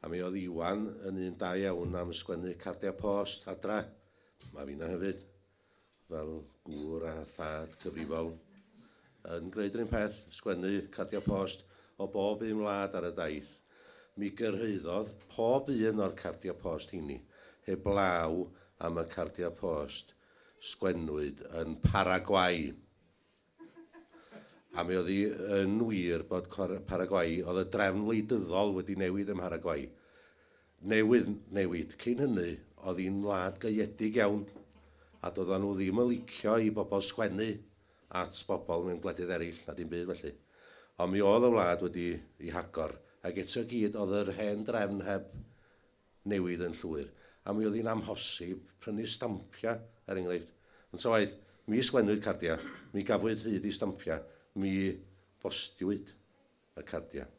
A mi oedd Iwan yn un da iawn am sgwennu cardiau post adra. Mae fi'n hyfyd. Fel gŵr a thad cyfrifol. Yn gwneud rhywun peth, sgwennu cardiau post o bob un wlad ar y daith. Mi gyrhaeddodd pob un o'r cardiau post heini, heblaw am y cardiau post sgwennwyd yn Paraguay. A mi oedd hi yn wir bod Paraguay, oedd y drefn wleidyddol wedi newid ym Mharaguay. Newydd newid. Cyn hynny, oedd hi'n wlad gaeedig iawn, a doeddan nhw ddim yn licio i bobl sgwennu at bobl mewn gwledydd eraill, na dim byd felly. Ond mi oedd y wlad wedi ei hagor, ac eto i gyd oedd yr hen drefn heb newydd yn llwyr, a mi oedd hi'n amhosib prynu'r stampiau, er enghraifft. Ond ta waeth, mi ysglenwyd cardiau, mi gafwyd hyd i stampiau, mi bostiwyd y cardiau.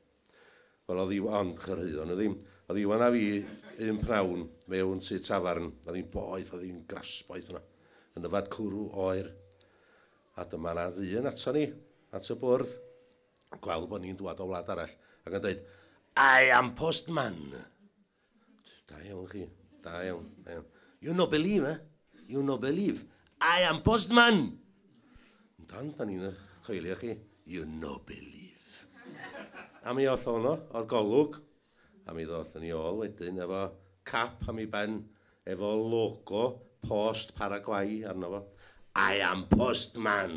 Wel, oedd Iw- ond chyrhaeddon nhw ddim. Oedd Iwan a fi un pnawn mewn tŷ tafarn, oedd hi'n boeth, oedd hi'n grasboeth yna, yn yfad cwrw oer. A dyma 'na ddyn ato ni, at y bwrdd, gweld bod ni'n dŵad o wlad arall ac yn dweud, I am postman! Da iawn chi, da iawn, da iawn. You no believe, eh? You no believe. I am postman! Dan, da ni'n eich coelio chi. You no believe. A mi oll o'n o, o'r golwg, A mi ddothon ni ôl wedyn efo cap am 'i ben efo logo post Paraguay arno fo. I am postman!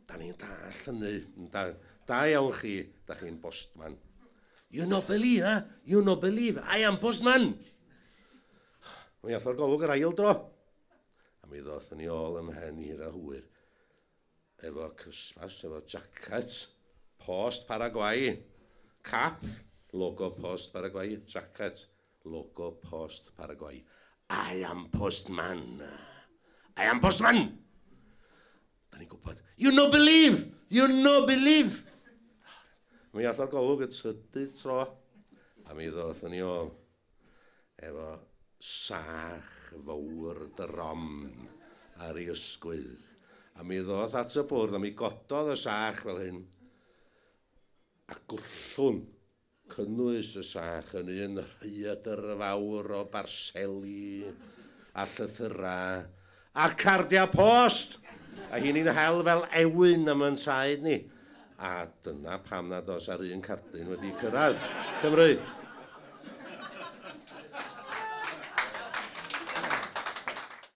Da ni'n dallt hynny, yndan? Da iawn chi, da chi'n bostman. You no believe, eh? You no believe, I am postman! Mi ath o'r golwg yr ail dro. A mi ddothon ni ôl ym mhen hir a hwyr. efo Christmas, efo jacket post Paraguay, cap logo post Paraguay, jacket logo post Paraguay. I am postman. I am postman! Da ni'n gwybod, you no believe! You no believe! Mi all o'r golwg y trydydd tro, a mi ddoth yn i ôl. efo sach fowr drom ar ei ysgwydd, a mi ddoth at y bwrdd a mi gododd y sach fel hyn, a gwllhwn cynnwys y sach yn un rhaeadr fawr o barseli a llythyrau A'r cardiau post! A hyn i'n hel fel ewyn am yn traed ni. A dyna pam nad oes ar un cardyn wedi cyrraedd Cymru.